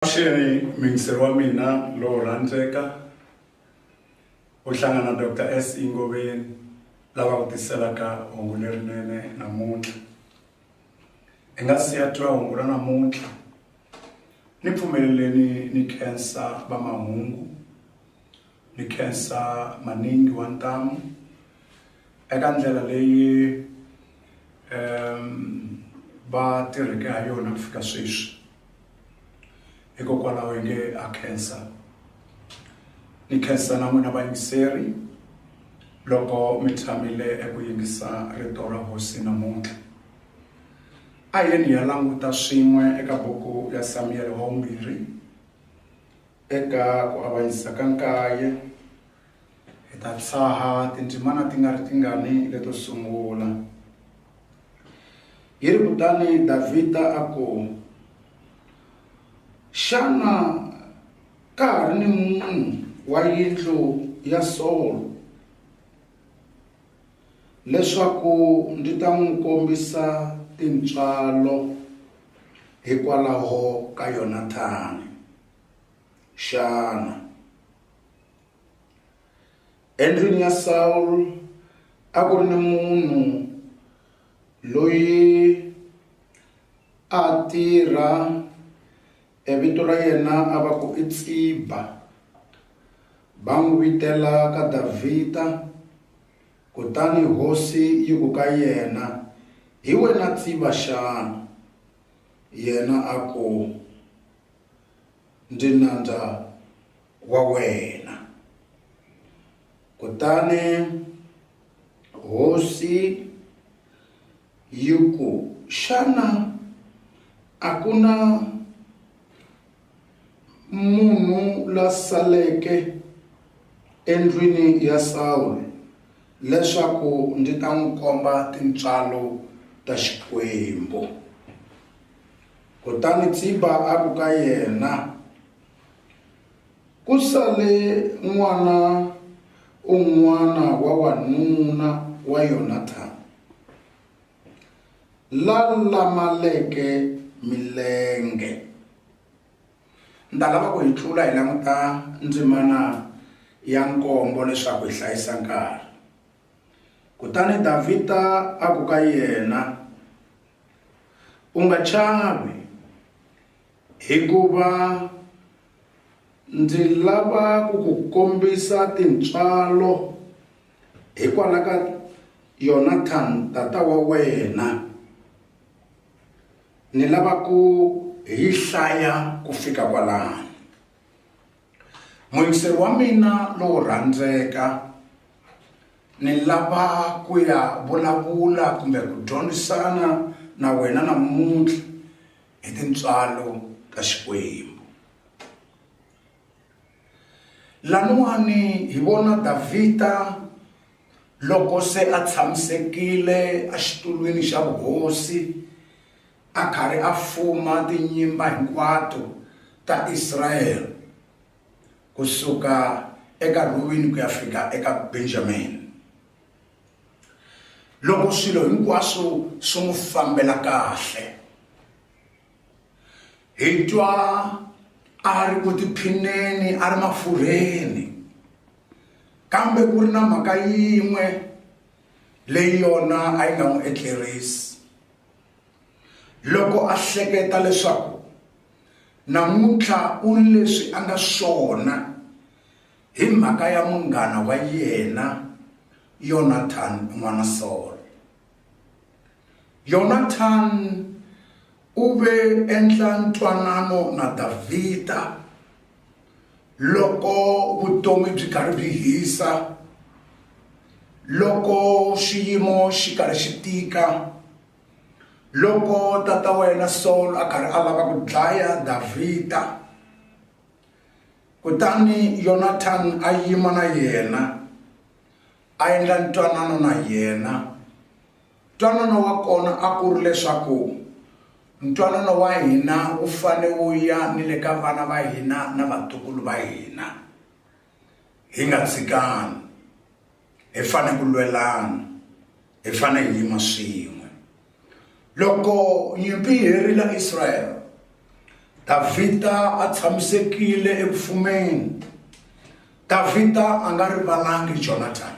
Avuxeni muyingiseri wa mina lowo rhandzeka u hlangana Doctor SE Ngoveni lava ku tiselaka hungu lerinene namuntlha hi nga siya twa hungu ra namuntlha ni pfumeleleni ni khensa va mahungu ni khensa maningi wa ntamu eka ndlela leyi va tirheke ha yona ku fika sweswi hikokwalaho hi nge a khensa ni khensa na n'wina vayingiseri loko mi tshamile eku yingisa rito ra hosi namuntlha a yeni hi ya languta swin'we eka buku ya samiyele wa vumbirhi eka ku avanyisa ka nkaye Hi ta tshaha tindzimana ti nga ri tingani leto sungula. Hi ri kutani Davhida a ku, Xana ka ha ri ni munhu wa yindlu ya Solo leswaku ndzi ta n'wi kombisa tintswalo hikwalaho ka Yonathani xana? Endlwini ya Sawulo a ku ri ni munhu loyi a tirha e vito ra yena a va ku i Tsiba va n'wi vitela ka Davhida kutani hosi yi ku ka yena hi wena Tsiba xana yena a ku ndzi nandza. wa wena. Kutani hosi yi ku, Xana a ku na munhu la saleke endlwini ya Sawule leswaku ndzi ta n'wi komba tintswalo ta Xikwembu? Kutani Tsiba a ku ka yena, Ku sale n'wana un'wana wa wanuna wa Yonathani, la lamaleke milenge. Ndzi ta lava ku hi tlula hi languta ndzimana ya nkombo leswaku hi hlayisa nkarhi. Kutani Davhida a ku ka yena, U nga chavi. Hikuva ndzi lava ku ku kombisa tintswalo hikwalaho ka Yonathani tata wa wena, ni lava ku hi yi hlaya ku fika kwalano. Muyingiseri wa mina lowo rhandzeka, ni lava ku ya vulavula kumbe ku dyondzisana na wena namuntlha. hi tintswalo ta Xikwembu. Laniwani hi vona Davhida loko se a tshamisekile exitulwini xa vuhosi a karhi a fuma tinyimba hinkwato ta Israyele kusuka eka Rhubeni ku ya fika eka Benjamini. loko swilo hinkwaswo swi n'wi fambela kahle hi twa a ri ku tiphineni a ri mafurheni kambe ku ri na mhaka yin'we leyi yona a yi nga n'wi etlerisi loko a hleketa leswaku namuntlha u ri leswi a nga swona Hi mhaka ya munghana wa yena Yonathani n'wana Solo. Yonathani u ve endla ntwanano na Davhida loko vutomi byi karhi byi hisa, loko xiyimo xi karhi xi tika, loko tata wa yena Solo a karhi a lava ku dlaya Davhida. Kutani Yonathani a yima na yena, a endla ntwanano na yena. Ntwanano wa kona a ku ri leswaku ntwanano wa hina wu fane wu ya ni le ka vana va hina na vatukulu va hina, hi nga tshikani. hi fanele ku lwelana hi fanele hi yima swin'we loko nyimpi yi herile israyele davhida a tshamisekile eku fumeni davhida a nga rivalangi jonathan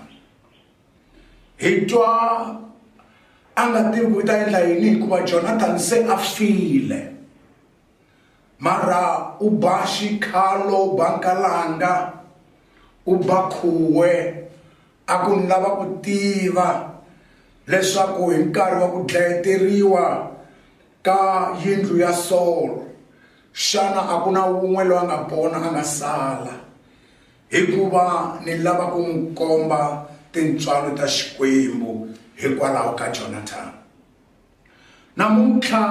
hi twa a nga tivi ku ta endla yini hikuva jonathan se a file Mara u ba xikhalo u ba nkalanga u ba khuwe a ku ni lava ku tiva leswaku hi nkarhi wa ku dlayeteriwa ka yindlu ya Solo xana a ku na wun'we loyi a nga pona a nga sala hikuva ni lava ku n'wi komba tintswalo ta Xikwembu hikwalaho ka Jonathani. namuntlha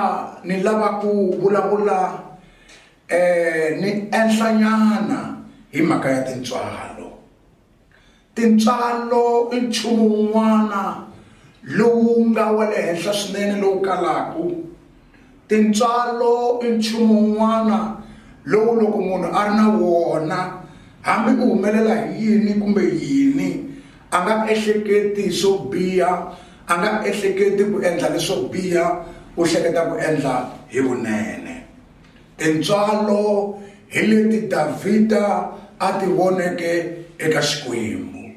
ni lava ku vulavula um ni enhlanyana hi mhaka ya tintswalo tintswalo i nchumu wun'wana lowu nga wa le henhla swinene lowu kalaka tintswalo i nchumu wun'wana lowu loko munhu a ri na wona hambi ku humelela hi yini kumbe yini A nga ehleketi swo biha, a nga ehleketi ku endla leswo biha, u hleketa ku endla hi vunene. Tintswalo hi leti Davhida a ti voneke eka Xikwembu.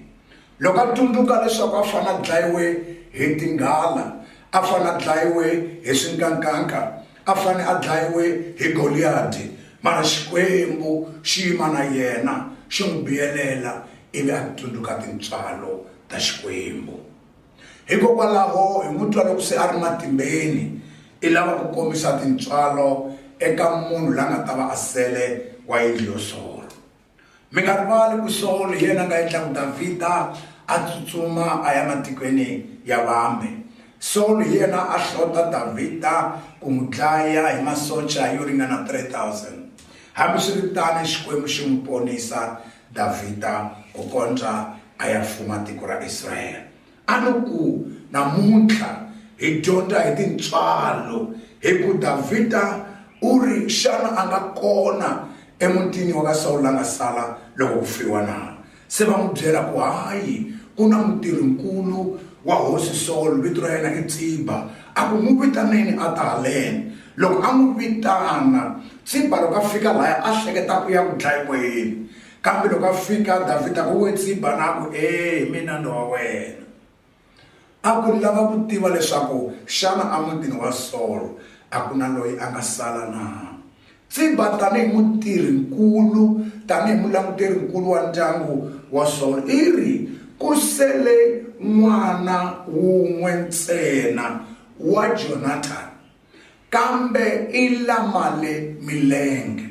Loko a tsundzuka leswaku a fanele a dlayiwe hi tinghala, a fanele a dlayiwe hi swinkankanka, a fane a dlayiwe hi Goliyadi, mara Xikwembu xi yima na yena, xi n'wi biyelela ivi a tsundzuka tintswalo ta Xikwembu. Hikokwalaho, hi n'wi twa loko se a ri matimbeni, i lava ku kombisa tintswalo eka munhu la nga ta va a sele wa yindlu yo solo. Mi nga rivali ku Sawulo hi yena a nga endla ku Davhida a tsutsuma a ya matikweni ya vambe. Sawulo hi yena a hlota Davhida ku n'wi dlaya hi masocha yo ringana 3,000. Hambiswiritano, Xikwembu xi n'wi ponisa Davhida ku kondza a ya fuma tiko ra Israyele. A no ku, Namuntlha hi dyondza hi tintswalo hi ku Davhida u ri, Xana a nga kona emutini wa ka Sawulo la nga sala loko ku fiwa na? Se va n'wi byela ku, Hayi, ku na mutirhi-nkulu wa hosi Sawulo, vito ra yena i Tsiba. A ku, N'wi vitaneni a ta haleni. Loko a n'wi vitana, Tsiba loko a fika lahaya a hleketa ku ya ku dlayiweni. Kambe loko a fika Davhida ku we tsiba na ku, E hi mina ni wa wena. A ku lava ku tiva leswaku xana emutini wa Solo a ku na loyi a nga sala na. Tsiba tanihi mutirhi-nkulu, tanihi mulanguteri-nkulu wa ndyangu wa Solo, i ri, Ku sele n'wana wun'we ntsena, wa Jonathani. Kambe i lamale milenge,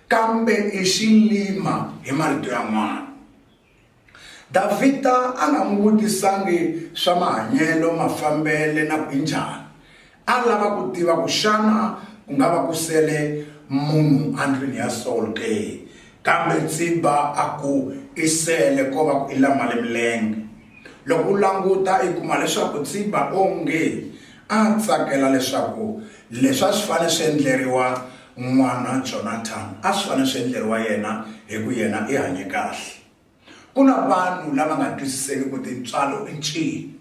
kambe i xilima hi marito yan'wana. Davhida a nga n'wi vutisangi swa mahanyelo, mafambele na ku i njhani. A lava ku tiva ku xana ku nga va ku sele munhu endlwini ya Sawulo ke. Kambe Tsiba a ku, I sele ko va ku i lamale milenge. Loko u languta i kuma leswaku Tsiba onge A a tsakela leswaku leswi a swi fanele swi endleriwa n'wana Jonathan a swi fanele swi endleriwa yena hi ku yena i hanye kahle. Ku na vanhu lava nga twisiseki ku tintswalo i ncini.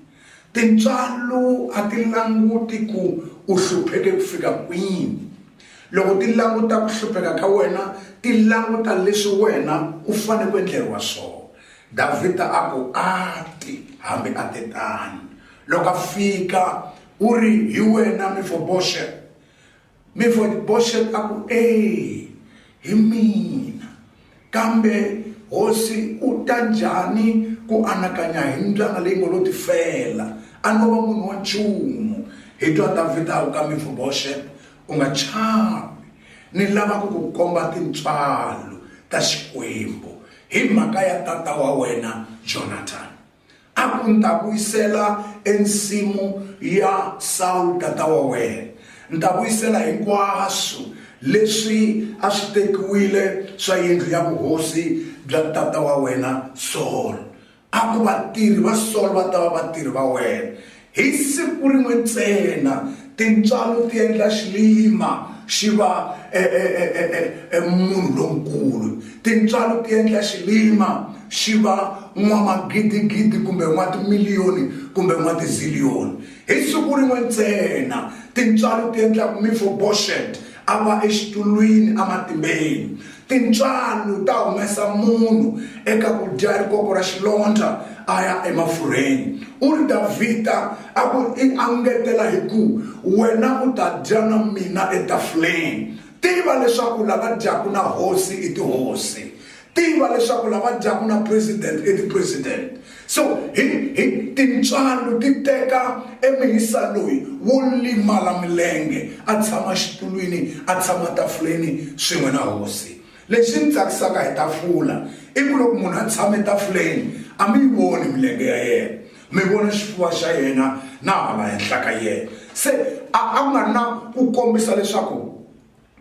Tintswalo a ti languti ku u hlupheke ku fika kwini. Loko ti languta ku hlupheka ka wena ti languta leswi wena u fanele ku endleriwa swona. Davhida a ku, A ti, hambi a te tano. Loko a fika u ri, Hi wena Mefoboshet? Mefoboshet a ku, E, hi mina. Kambe hosi u ta njhani ku anakanya hi mbyana leyi ngo lo tifela? A no va munhu wa nchumu. Hi twa Davhida a ku ka Mefoboshet, U nga chavi. Ni lava ku ku komba tintswalo ta Xikwembu hi mhaka ya tata wa wena Jonathani. A ku, Ni ta vuyisela ensimu ya Sawulo tata wa wena. Ni ta vuyisela hinkwaswo leswi a swi tekiwile swa yindlu ya vuhosi bya tata wa wena Solo. A ku, Vatirhi va Solo va ta va vatirhi va wena. Hi siku rin'we ntsena tintswalo ti endla xilima xi va e, e, e, e munhu lonkulu. Tintswalo ti endla xilima xi va n'wamagidigidi kumbe n'watimiliyoni kumbe n'watiziliyoni. Hi siku rin'we ntsena tintswalo ti endla ku Mefoboshet a va exitulwini ematimbeni. Tintswalo ta humesa munhu eka ku dya rikoko ra xilondza a ya emafurheni. U ri, Davhida a ku i angetela hi ku, Wena u ta dya na mina etafuleni. Tiva leswaku lava dyaka na hosi i tihosi. Tiva leswaku lava dyaka na president i tipresident. So, hi, hi, tintswalo ti teka emihisa loyi wo limala milenge, a tshama xitulwini, a tshama tafuleni swin'we na hosi. Lexi ni tsakisaka hi tafula, i ku loko munhu a tshame tafuleni, a mi yi voni milenge ya yena, mi vona xifuva xa yena na hala henhla ka yena. Se, a, a ku nga ri na ku kombisa leswaku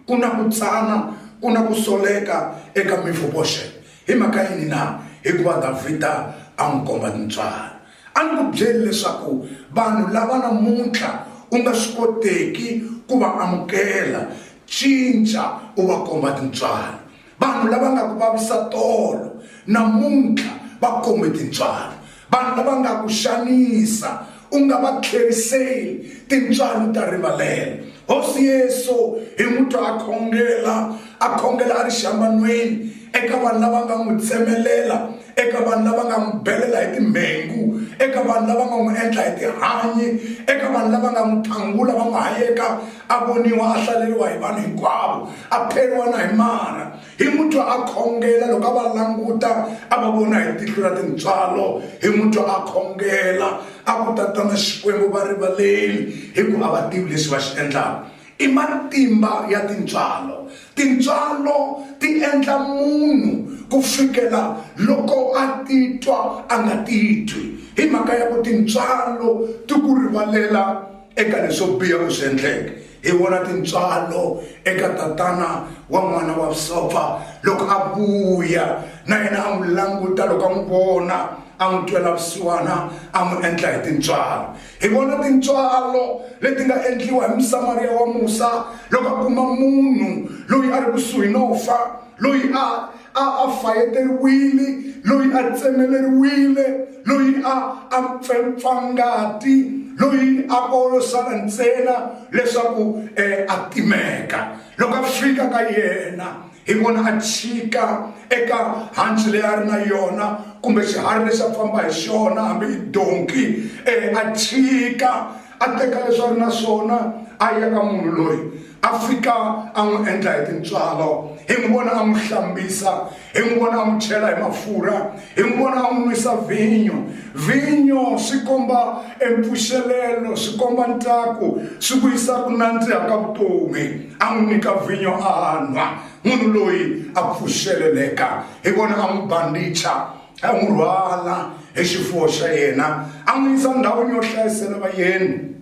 ku na ku tsana ku na ku soleka eka mifoboxe hi mhaka yini na hikuva davhida a n'wi komba tintswalo a ni ku byeli leswaku vanhu lava namuntlha u nga swi koteki ku va amukela cinca u va komba tintswalo vanhu lava nga ku vavisa tolo namuntlha va khome tintswalo vanhu lava nga ku xanisa u nga va tlheriseli tintswalo ta rivalela hosi yesu hi mutwa a khongela a khongela a ri xambanweni eka vanhu lava nga n'wi tsemelela eka vanhu lava nga n'wi belela hi timhengu eka vanhu lava nga n'wi endla hi tihanyi eka vanhu lava nga n'wi thangula va n'wi hayeka a voniwa a hlaleriwa hi vanhu hinkwavo a pheriwa na hi mara hi mutwa a khongela loko a va languta a va vona hi tihlo ra tintswalo hi mutwa a khongela a ku tatana xikwembu va rivaleli hi ku a va tivi leswi va xi endlaka I matimba ya tintswalo. Tintswalo ti endla munhu ku fikela loko a titwa a nga titwi hi mhaka ya ku tintswalo ti ku rivalela eka leswo biha u swi endleke hi vona tintswalo eka tatana wa n'wana wa vusopfa loko a vuya na yena a n'wi languta loko a n'wi vona a n'wi twela vusiwana a n'wi endla hi tintswalo Hi vona tintswalo leti nga endliwa hi Musamariya wa musa loko a kuma munhu loyi a ri kusuhi no fa, loyi a a a fayeteriwile, loyi a tsemeleriwile, loyi a a pfempfa ngati, loyi a ko sala ntsena leswaku um a timeka. Loko a fika ka yena hi vona a chika eka hanci leyi a ri na yona kumbe xiharhi lexi a famba hi xona hambi i donki um a chika a teka leswi a ri na swona a ya ka munhu loyi a fika a n'wi endla hi tintswalo hi n'wi vona a n'wi hlambisa hi n'wi vona a n'wi chela hi mafurha hi n'wi vona a n'wi nwisa vhinyo vhinyo swi komba empfuxelelo swi komba ntsako swi vuyisa ku nandziha ka vutomi a n'wi nyika vhinyo a nwa munhu loyi a pfuxeleleka hi vona a n'wi bandicha a n'wi rhwala hi xifuwo xa yena a n'wi yisa ndhawini yo hlayisela vayeni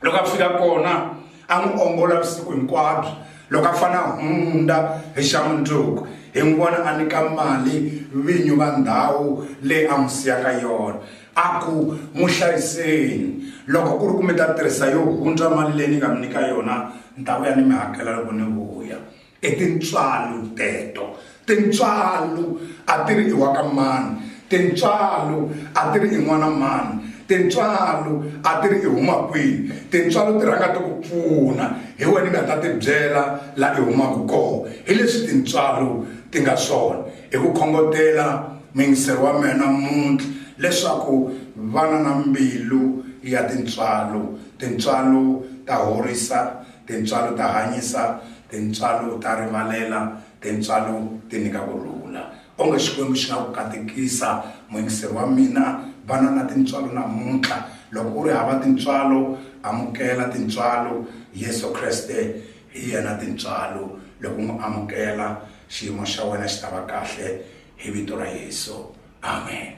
loko a fika kona a n'wi ongola vusiku hinkwabyo loko a fana hundza hi xa mundzuku hi n'wi vona a nyika mali vinyi va ndhawu leyi a n'wi siyaka yona a ku n'wi hlayiseni loko ku ri ku mi ta tirhisa yo hundza mali leyi ni nga mi nyika yona ni ta vuya ni mi hakela loko ni vuya I tintswalo teto. Tintswalo a ti ri i wa ka mani. Tintswalo a ti ri i n'wana mani. Tintswalo a ti ri i huma kwihi. Tintswalo ti rhanga ti ku pfuna hi wena i nga ta tibyela laha i humaka kona. Hi leswi tintswalo ti nga swona. I ku khongotela muyingiseri wa mehe namuntlha leswaku vana na mbilu ya tintswalo. Tintswalo ta horisa. Tintswalo ta hanyisa, tintswalo ta rivalela, tintswalo ti nyika ku rhula. Onge Xikwembu xi nga ku katekisa, muyingiseri wa mina. Va na na tintswalo namuntlha. Loko u ri hava tintswalo, amukela tintswalo. Yesu Kreste hi yena tintswalo. Loko u n'wi amukela, xiyimo xa wena xi ta va kahle hi vito ra Yesu. Amen.